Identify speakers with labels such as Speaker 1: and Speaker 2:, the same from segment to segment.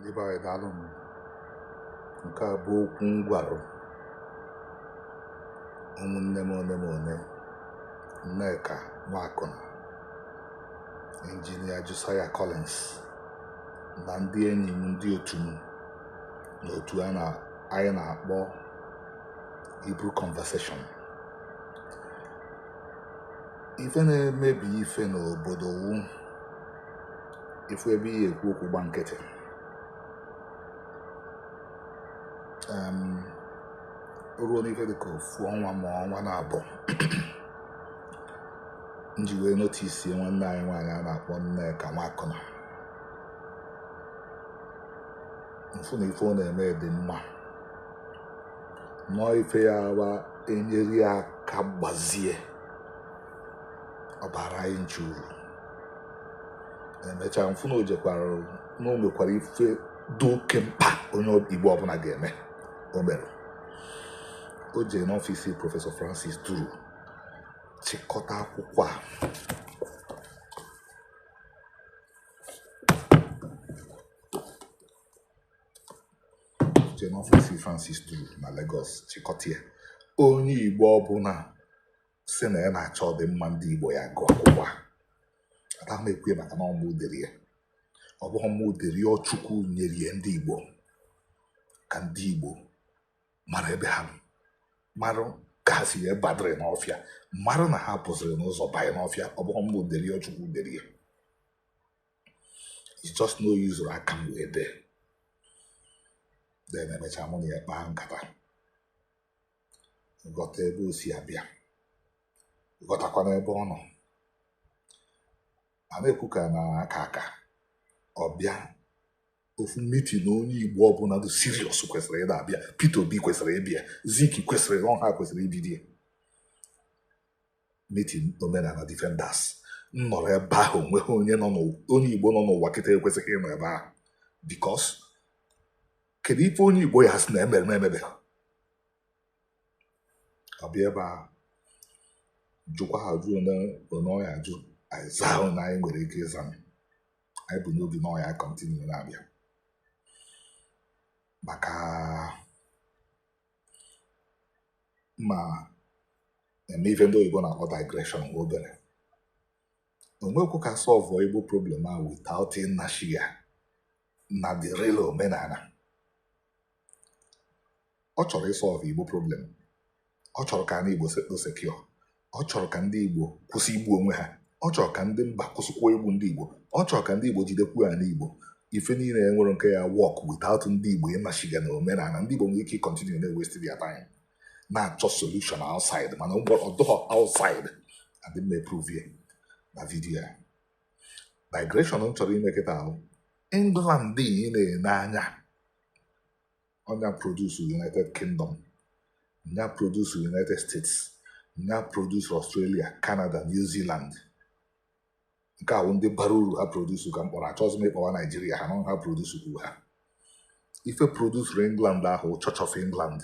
Speaker 1: ndị be anyị daalụ m nke a bụ okwu m gwara ụmụnne m ole m ole nneka nwakụna injinia josiah collins na ndị enyi m ndị otu m n'otu anyị na-akpọ Hebrew conversation ife na-emebi ife n'obodo wu ịfụ ebe ị ya-ekwu okwu gba nkịtị ruo n'ife dịka ofu ọnwa ma ọnwa naabọ m ji wee notice nwanne anyị nwaanyị a na-akpọ nneka nwakụna m fụ na ife ọ na-eme dị mma na ọọ ife ya-awụ e nyere ya aka gbazie ọ baara anyị ncha uru emechaa m fụ na o jekwara na o mekwara ife dị oke mkpa onye igbo ọbụla ga-eme o mere o jee n'ọfịs prọfesọ francis duru chịkọta akwụkwọ a jee n'ọfịs francis duru na lagos chịkọta ya onye igbo ọbụla sị na ya na-achọ ọdịmma ndị Igbo ya gụọ akwụkwọ a anaghị m ekwu ya maka na ọ mụ dere ya ọ bụghị mụ dere ya ọ Chukwu nyere ya ndị Igbo ka ndị Igbo mara ebe ha mara ka ha si wee badịrị n'ọfịa mara na ha pụziri n'ụzọ banye n'ọfịa ọ bụghị mụ dere ya ọ Chukwu dere ya it's just na o use aka m wee dee then emecha mụ na ya kpaa nkata ghọta ebe o si abịa ghọtakwana ebe ọ nọ a na-ekwu ka a na-aka aka ọ bịa ofu meeting na onye igbo ọbụla dị serious kwesịrị ịda abịa Peter Obi kwesịrị ịbịa Zik kwesịrị ọ ha kwesịrị ibido ya meeting omenala defenders m nọrọ ebe ahụ o nweghị onye nọ onye igbo nọ n'ụwa kịta ekwesịghị ịnọ ebe ahụ because kedu ife onye igbo ya-asị na e mere m emebeghị ọ bịa ebe ahụ jụkwaa ajụjụ na ọ ya-ajụ anyị zaa na anyị nwere ike ịza ma anyị bu n'obi na ọ ya continue na-abịa maka m ya-eme ife ndị oyibo na-akpọ digression nwa obere onwekwu ka a solve igbo problem ahụ without ịnashi ya na the real omenala ọ chọrọ ịsọlve igbo problem ọ chọrọ ka ndị igbo settle secure ọ chọrọ ka ndị igbo kwụsị igbu onwe ha ọ chọrọ ka ndị mba kwụsịkwa igbu ndị igbo ọ chọrọ ka ndị igbo jidekwu ana igbo ife niile enwere nke ya work without ndị igbo ịmachiga na omenala ndị igbo nwere ike ịkọntinu na waste their time na-achọ solution outside mana ọ dọghọ outside and m ma-eprove ya na vidiyo ya digression m chọrọ ime kịta ahụ england ị na-ene anya ọ nya produce united kingdom nya produce united states nya produce australia canada new zealand nke ahụ ndị bara uru ha produce ka m kpọrọ achọghịzi m ịkpọwa naijiria ha nọ ha produce kwuru ha ife produsuru england ahụ church of england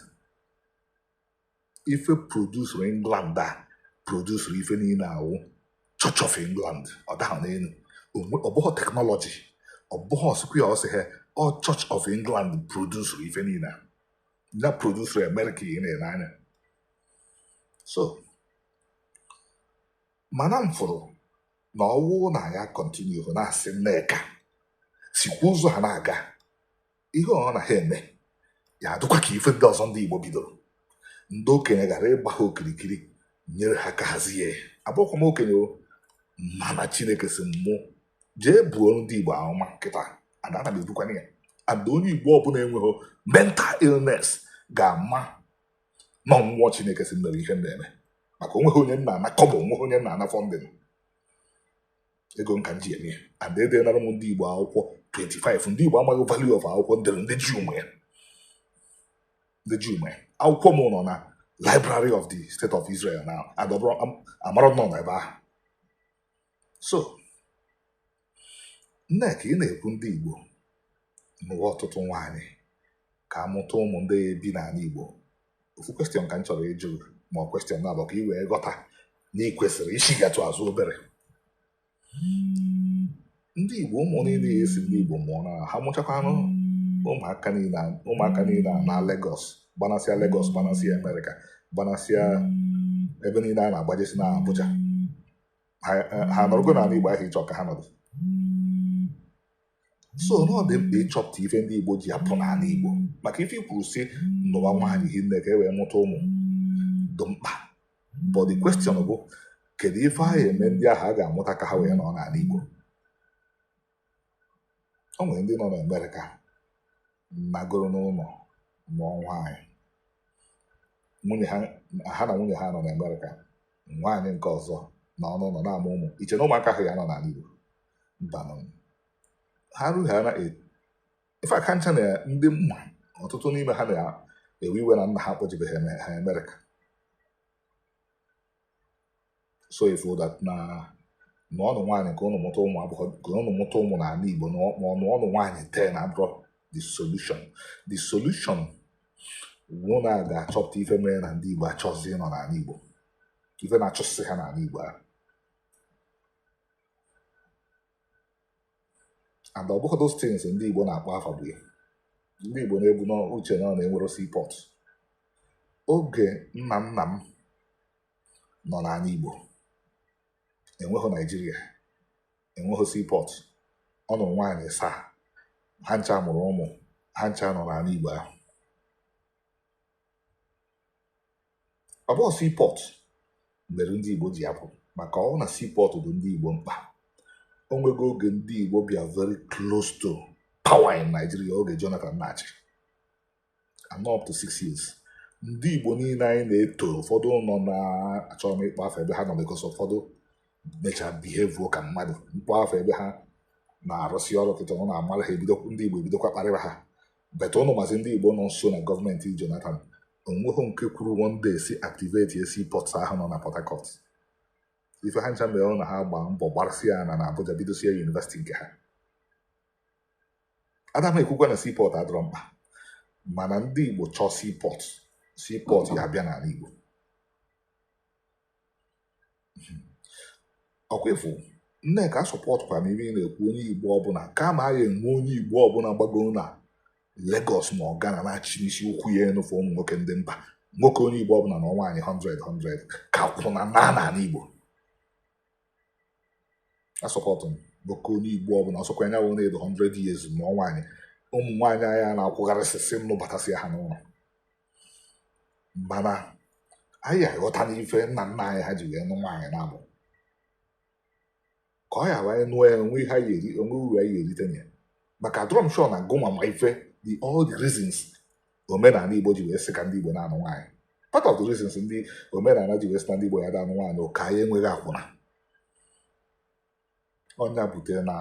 Speaker 1: ife produsuru england a produsuru ife niile awụ church of england ọ dahụ n'elu Onwe- ọ bụghị teknọlọji ọ bụghị square ọsị ha ọ church of england produsuru ife niile a. ya produsuru amerịka ị na-ene anya so mana m fụrụ na ọwụ na anyị kọntinu na-asị nneka sikwa ụzọ ha na-aga ihe ọ na ha eme ya adịkwa ka ife ndị ọzọ ndị Igbo bidoro ndị okenye gara ịgba ha okirikiri nyere ha aka hazie abụkwa m okenye mana Chineke sị mụ jee buo ndị Igbo amụma kịta and ana m ebukwana ya and onye Igbo ọbụla enweghị mental illness ga-ama na mmụọ Chineke sị m mee ihe m na-eme maka onweghị onye m na-ana kọbọ onweghị onye m na-ana funding ego m ka m ji eme ya and edenara m ndị igbo akwụkwọ 25 ndị igbo amaghị value of akwụkwọ m dere ndị juu ma ya ndị juu ma ya akwụkwọ m nọ na library of the state of israel na adọbụrụ amara nọ na ebe ahụ so nneka ị na-ekwu ndị igbo nụwa ọtụtụ nwaanyị ka amụta ụmụ ndị bi n'ala Igbo ofu question ka m chọrọ ịjụ ma ọ question na-abụ ka ị wee ghọta na ị kwesịrị ịchigatụ azụ obere ndị Igbo ụmụ niile ị sị ndị Igbo mụọ na ha mụchakwanụ ụmụaka niile ụmụaka niile a na Lagos gbanasịa Lagos gbanasịa Amerịka gbanasịa ebe niile a na-agbajesi na Abuja ha nọrọgo n'ala Igbo ahụ ị chọ ka ha nọdụ so na ọ dị mkpa ịchọpụta ife ndị Igbo ji apụ n'ala Igbo maka ife i kwuru sị nụwa nwaanyị hinne ka e wee mụta ụmụ dị mkpa but the question bụ kedu ife a ya-eme ndị ahụ a ga-amụta ka ha wee nọ n'ala Igbo o nwere ndị nọ n'Amerịka nagoro n'ụlọ nụọ nwaanyị nwunye ha ha na nwunye ha nọ na Amerịka nwaanyị nke ọzọ nọ n'ụlọ na-amụ ụmụ i che na ụmụaka ahụ ya-anọ n'ala Igbo mbanụ ha rughara ife aka ncha na ndị m ma ọtụtụ n'ime ha na-ewe iwe na nna ha akpọjebeghị ha Amerịka so ị fụ that na na ọnụ nwaanyị ka ụnụ mụta ụmụ abụọ ka ụnụ mụta ụmụ n'ala Igbo na ọ- ma ọnụnụ nwaanyị ten abụrọ the solution the solution wụ na a ga-achọpụta ife mere na ndị Igbo achọzi ịnọ n'ala Igbo ife na-achụsị ha n'ala Igbo ahụ and ọ bụghị those things ndị Igbo na-akpọ afa bụ ya ndị Igbo na-ebu n'uche na ọ na enwerọ seaport oge nna nna m nọ n'ala Igbo enweghị Naijiria enweghị seaport ọ nụrụ nwaanyị asaa ha ncha mụrụ ụmụ ha ncha nọ n'ala Igbo ahụ ọ bụghị seaport mere ndị Igbo ji apụ maka ọ na seaport dị ndị Igbo mkpa o nwego oge ndị Igbo bịa very close to power in Nigeria oge Jonathan na-achị and up to six years ndị Igbo niile anyị na-eto ụfọdụ nọ na achọ m ịkpọ afa ebe ha nọ because ụfọdụ mechaa behave ka mmadụ m kpọọ afa ebe ha na-arụsị ọrụ kịta ụnụ amara ha ebido ndị Igbo ebidokwa kparịba ha but ụnụ mazi ndị Igbo nọ nso na gọọmenti Jonathan o nweghị nke kwuru one day sị activate seaport ahụ nọ na Port Harcourt ife ha ncha mere na ha gbaa mbọ gbarasịa ana na Abuja bidosie yunivesiti nke ha ada m ekwukwa na seaport adịrọ mkpa mana ndị Igbo chọọ seaport seaport ya-abịa n'ala Igbo ọ kwa ị fụ Nneka a supportkwara m ife ị na-ekwu onye igbo ọbụla kama a ga-enwe onye igbo ọbụla gbagoro na Lagos ma ọ Ghana na-achịnisi ụkwụ ya enu for ụmụ nwoke ndị mba nwoke onye igbo ọbụla nụọ nwaanyị 100 100 ka akwụna naa n'ala igbo a support m nwoke onye igbo ọbụla ọ sọkwa nya wụ na ọ dị 100 years nụọ nwaanyị ụmụ nwaanyị anyị a na-akwụgharịsịsị nụbatasịa ha n'ụlọ mana anyị aghọta n'ife nna nna anyị ha ji wee nụ nwaanyị na-abụ ka anyị wee nụọ ya o nwe ihe anyị eri o nwe uru anyị erite na ya maka adịrọ m sure na gịnwa ma ife the all the reasons omenala igbo ji wee sị ka ndị igbo na-anụ nwaanyị part of the reasons ndị omenala ji wee sị na ndị igbo ya da anụ nwaanyị wụ ka anyị enweghị akwụna ọ nya butere na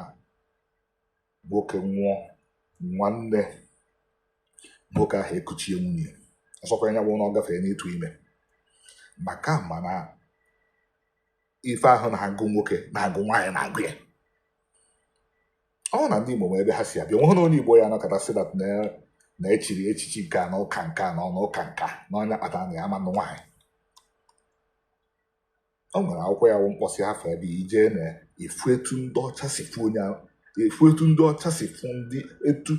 Speaker 1: nwoke nwụọ nwanne nwoke ahụ ekuchie nwunye ọsọkwa ya bụ na ọ gafere n'ịtụ ime maka mana ife ahụ na-agụ nwoke na-agụ nwaanyị na-agụ ya ọ na ndị Igbo ma ebe ha si abịa nweghị na onye Igbo ya anọkata sị that na echiri echichi nke a na ụka nke a na ọnụ ụka nke a na ọ nya kpatara na ya ama anụ nwaanyị o nwere akwụkwọ ya bụ m kpọsị afa ebe ị je na-afụ etu ndị ọcha si fụ onye ahụ efu etu ndị ọcha si fụ ndị etu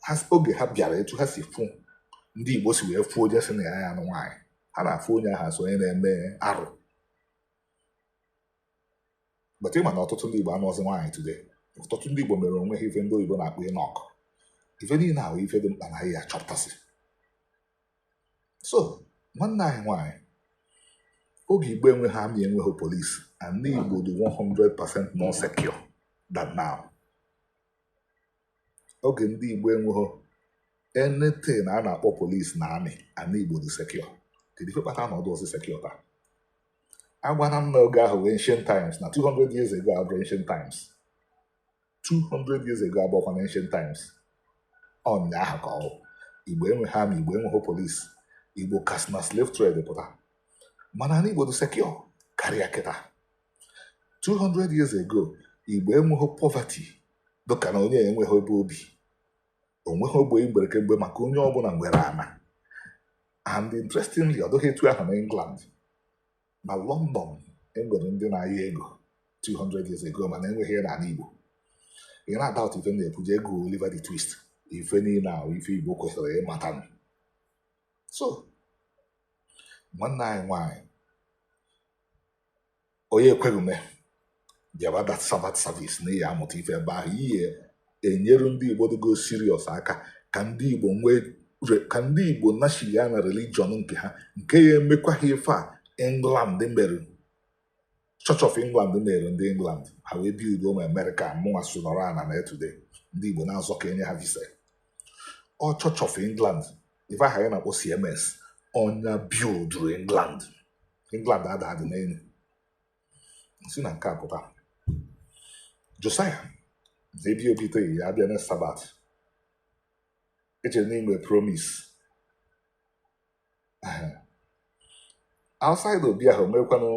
Speaker 1: ha si- oge ha bịara etu ha si fụ ndị igbo si wee fụ onye sị na ya ya anụ nwaanyị ha na-afụ onye ahụ as onye na-eme arụ but ị ma na ọtụtụ ndị igbo anụọzi nwaanyị today ọtụtụ ndị igbo mere onwe ha ife ndị oyibo na-akpọ eunuch ife niile ahụ ife dị mkpa na ya achọpụtasị so nwanne anyị nwaanyị oge igbo enweghị army enweghị police ana igbo dị 100% more secure than now oge ndị igbo enweghị anything a na-akpọ police na army ana igbo dị secure kedu ife kpata na ọ dụọzi secure taa agwana m na oge ahụ wụ ancient times na 200 years ago abụrọ ancient times 200 years ago abụọkwa na ancient times ụnyaahụ ka ọ wụ igbo enweghị army igbo enweghị police igbo ka si na slave trade pụta mana ana igbo dị secure karịa kịta 200 years ago igbo enweghị poverty dịka na onye enweghị ebe o bi o nweghị ogbe igbere kemgbe maka onye ọbụla nwere ana and interestingly ọ dịghị etu ahụ na England na London enwere ndị na-ayọ ego 200 years ago mana enweghị ya na ana Igbo ị na-adoubt ife m na-ekwu jee gụọ Oliver the Twist ife niile ahụ ife Igbo kwesịrị ịmata so nwanne anyị nwaanyị onye ekweghị ume bịawa that sabbath service na ị ya amụta ife ebe ahụ ị ya enyere ndị igbo dịgo serious aka ka ndị igbo nachigha na religion nke ha nke ya emekwa ha ife a england mere church of england mere ndị england ha wee build ma america mụnwa so nọrọ ana na today ndị igbo na-azọ ka enye ha visa ọ church of england ife ahụ a na-akpọ cms ọ nya builduru england england ada adị n'elu si na nke a pụta josiah zebi obi itoghị ya abịa na sabbath echere na i mee promise outside obi ahụ meekwanụ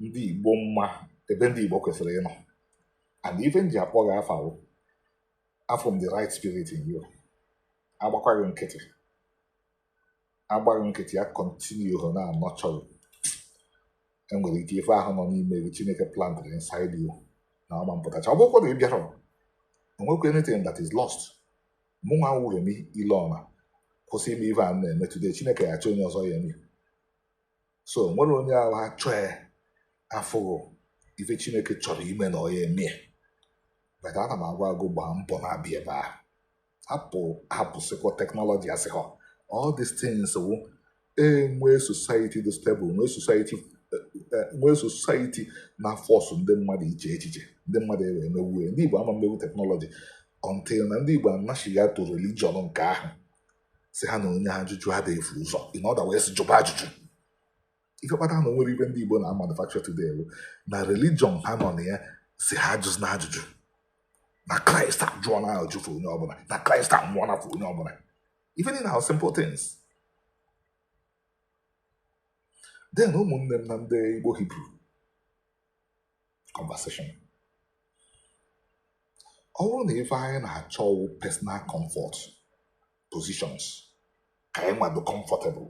Speaker 1: ndị igbo mma ebe ndị igbo kwesịrị ịnọ and ife m ji akpọ gị afa wụ afụrụ m the right spirit in you agbakwaghị nkịtị agbaghị nkịtị ya continue ha na-anurture enwere ike ife ahụ nọ n'ime gị chineke plantịrị inside you na ọ ma mpụtacha ọ bụkwa na ị bịara o nwekwa anything that is lost mụ nwa wụ remi ilona kwụsị ime ife a m na-eme today chineke ya achọ onye ọzọ ya eme so nwere onye ahụ ha chọọ ya afụghụ ife chineke chọrọ ime na ọ ya eme ya but ana m agwa gị gbaa mbọ na-abịa ebe ahụ apụ hapụsịkwa teknọlọji asị ha all these things wụ enwee society dị stable nwee society eh, eh, nwee society na-aforce ndị mmadụ iche echiche ndị mmadụ ewee mewue ndị Igbo ama mmewu teknọlọji until na ndị Igbo anachighaa to religion nke ahụ sị ha na onye ajụjụ adịghị efu ụzọ in other words jụba ajụjụ ife kpata na o nwere ife ndị Igbo na-amanufacture today bụ na religion ha nọ na ya sị ha ajụzina ajụjụ na Kraịst ajụọna ajụjụ for onye ọbụla na Kraịst anwụọna for onye ọbụla ife niile ahụ simple things then ụmụnne m na ndị Igbo Hibru conversation ọ bụrụ na ife anyị na-achọ wụ personal comfort positions ka anyị nwado comfortable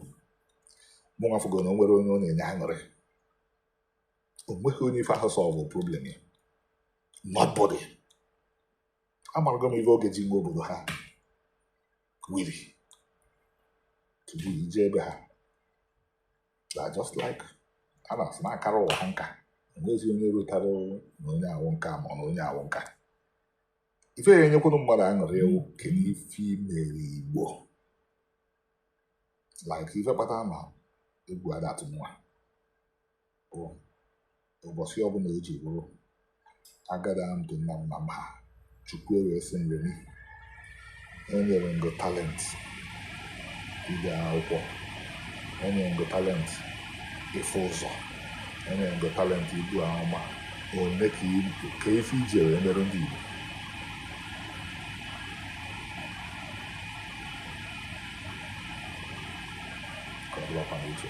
Speaker 1: mụ nwa afụgo na o nwere onye ọ na-enye aṅụrị o nweghị onye ife ahụ solve problem ya nobody amarago m ife oge ji nwe obodo ha wili tupu ije ebe ha na just like a na-asị na akara ụwa ha nka enwezi onye rụtara na onye a wụ nka ma ọ na onye a wụ nka ife ya enyekwuru mmadụ aṅụrị wụ kedu ife i mere igbo like ife kpatara na egwu ada atụ m nwa ohu ụbọchị ọbụla o ji bụrụ ohu agada m ndị nna m nna m ha chukwu ewee sị m remi enyere m gị talent ide akwụkwọ enyere m gị talent ịfụ ụzọ enyere m gị talent ibu amụma olee ka i- ka ife i ji wee merụ ndị igbo ka ọ bụrụkwa na uche